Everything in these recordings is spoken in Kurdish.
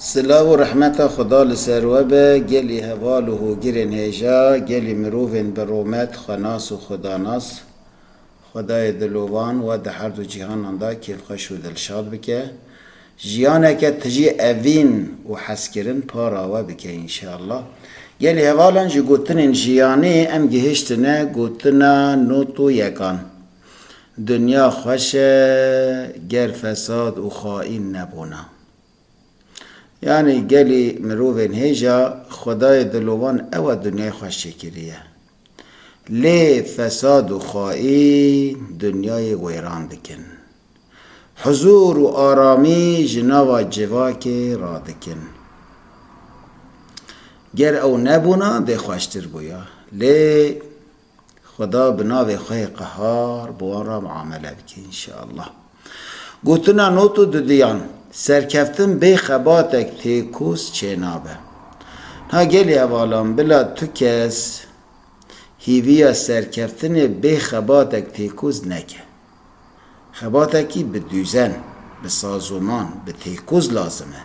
Silav û rehmeta Xweda li ser we be, gelî heval û hogirên hêja, gelî mirovên bi romet, xwenas û xwedanas. Xwedayê dilovan we di her du cîhanan de kêfxweş û dilşad bike. Jiyaneke tijî evîn û hezkirin para we bike înşeallah. Gelî hevalan ji gotinên jiyanê em gihiştine gotina not û yekan. Dinya xweş e ger fesad û xaîn nebûna. Yanî gelê mirovên hêja xwedayê dilo wan ew e dinyayê xweş çêkiriye. Lê fesad û xaîn dinyayê wêran dikin. Huzûr û aramî ji nava civakê radikin. Ger ew nebûna dê xweştir bûya. Lê. Xweda bi navê xwe yê qehar bi wan re miamele bike înşeallah. Gotina not û duduyan, Serkeftin bê xebatek têkoz çênabe. Niha gelê hevalan bila tu kes hîviya serkeftinê bê xebatek têkoz neke. Xebatekî bi dûzen, bi sazoman, bi têkoz lazim e.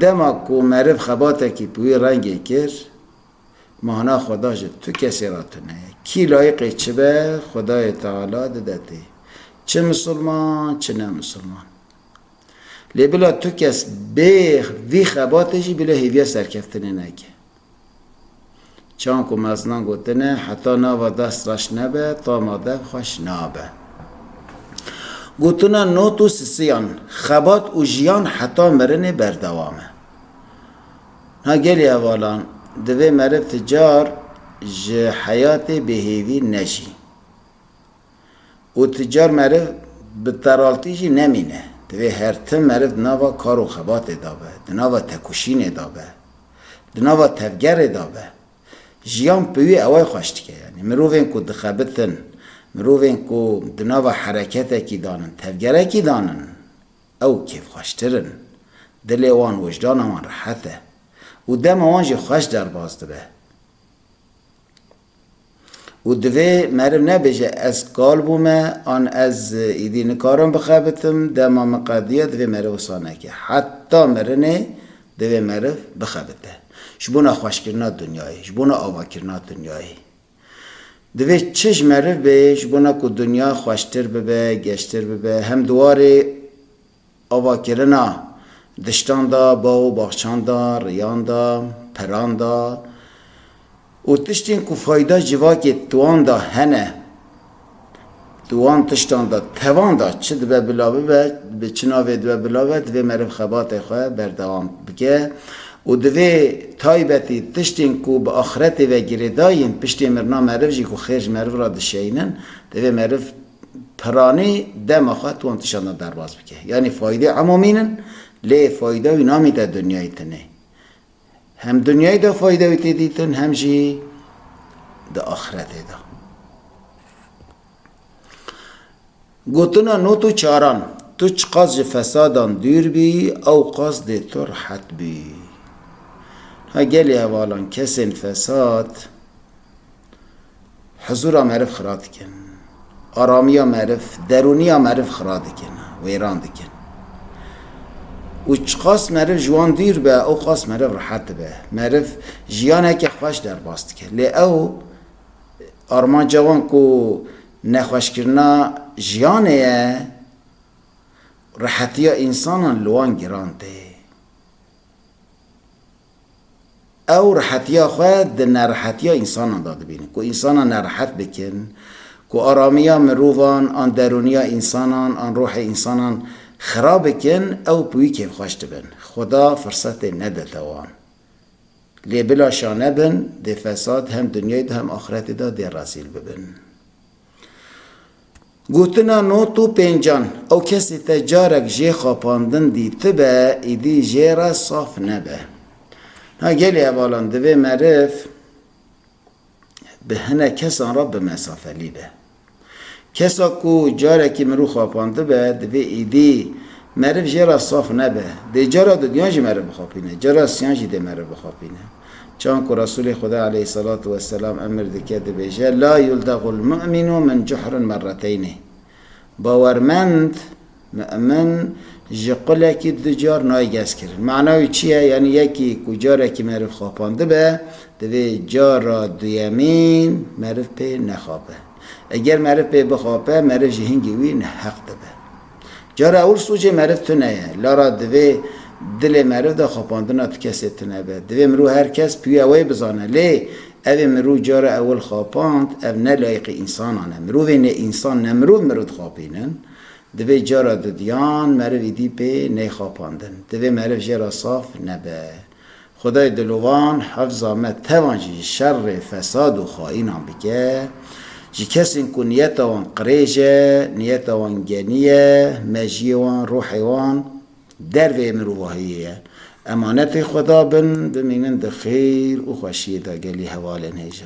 Dema ku meriv xebatekî bi wî rengê kir, Mana xwe da ji tu kesê re tune ye. Kî layiqê çi be, Xwedayê Teala dide tê. Çi misilman, çi ne misilman. Lê bila tu kes bê vî xebatê jî bila hêviya serkeftinê neke. Çawan ku mezinan gotine, heta nava dest reş nebe, tama dev xweş nabe. Gotina not û sisiyan, xebat û jiyan heta mirinê berdewam e. Ha gelê hevalan, divê meriv ti car ji heyatê bêhêvî neşî. Û ti car meriv bi teraltî jî nemîne. Divê her tim meriv di nava kar û xebatê de be, di nava tekoşînê de be, di nava tevgerê de be. Jiyan bi wî eway xweş dike. Yanî mirovên ku dixebitin, mirovên ku di nava hereketekî dan in, tevgerekî dan in, Ew kêfxweştir in, dilê wan, wijdana wan rehet e û dema wan jî xweş derbas dibe. Û divê meriv nebêje ez kal bûme an ez îdî nikarim bixebitim, dema min qediya divê meriv wisa neke. Heta mirinê divê meriv bixebite. Ji bona xweşkirina dinyayê, ji bona avakirina dinyayê. Divê çij meriv bê ji bona ku dinya xweştir bibe, geştir bibe, hem di warê avakirina diştan da, baw û baxçan da, riyan da, peran da û tiştên ku fayda civakê di wan da hene. Di wan tiştan de tevan de çi dibe bila bibe, bi çi navê dibe bila bibe, divê meriv xebatê xwe berdewam bike û divê taybetî tiştên ku bi axiretê ve girêdayî yên, piştê mirina meriv jî ku xêr ji meriv re dişeyînin, divê meriv piranî dema xwe di wan tiştan de derbas bike. Yanî fayîdê emamîn in, lê fayîda wî namîte dinyayê tenê. Hem dinyayê de fayde wî tê dîtin hem jî di axiretê de. Gotina not û çaran Tu çiqas ji fesadan dûr bî ew qas dê tu rihet bî. Ha gelê hevalan kesên fesad Huzûra meriv xira dikin. Aramiya meriv, derûniya meriv xira dikin, wêran dikin. Û çiqas meriv ji wan dûr be, ew qas meriv rihet dibe. Meriv jiyaneke xweş derbas dike. Lê ew armanca wan ku nexweşkirina jiyanê ye, rihetiya însanan li wan giran tê. Ew rehetiya xwe di nerehetiya însanan de dibînin. Ku însanan nerehet bikin, ku aramiya mirovan an derûniya însanan an ruhê însanan xirab bikin, ew pûyikên xweş dibin. Xweda firsetê nedete wan. Lê bila şane bin, dê fesad hem dinyayê de hem axretê de dê rezîl bibin. Gotina not û pêncan, ew kesê te carek jê xapandin dîtibe, îdî jê re saf nebe. Na gelê hevalan divê meriv bi hinek kesan re bimesafelî be. Kesa ku carekî mirû xapandibe, divê îdî meriv jê re saf nebe. Dê cara dudiyan jî meriv bixapîne, cara siyan jî dê meriv bixapîne. Çan ku Resûlê Xwedê aleyh selatû weselam emir dike dibêje, La yuldaghul mu'minu min cuhrin merreteynî, Bawermend, mu'min, ji qulekî du car nayê gezkirin. Mana wî çi ye? Yanî yekî ku carekî meriv xapandibe, divê cara duyemî meriv pê nexape. Eger meriv pê bixape, meriv ji hingî wî neheq dibe. Cara ewil sûcê meriv tune ye. Lara divê dilê meriv de xapandina ti kesê tune be. Divê mirû her kes pûya wê bizane. Lê evê mirû cara ewil xapand, ev ne layiqî însanan e. Mirovê nêînsan ne mirov mirov dixapînin. Divê cara dudiyan merivî dî pê neyxapandin. Divê meriv jê ra saf nebe. Xwedayê dilovan hefza me tevan jî ji şerê fesad û xaînan bike. Ji kesên ku niyeta wan qirêj e, niyeta wan genî ye, mejiyê wan, ruhê wan derveyê mirovahiyê ye. Emanetê Xweda bin, bimînin di xêr û xweşiyê de gelî hevalên hêj e.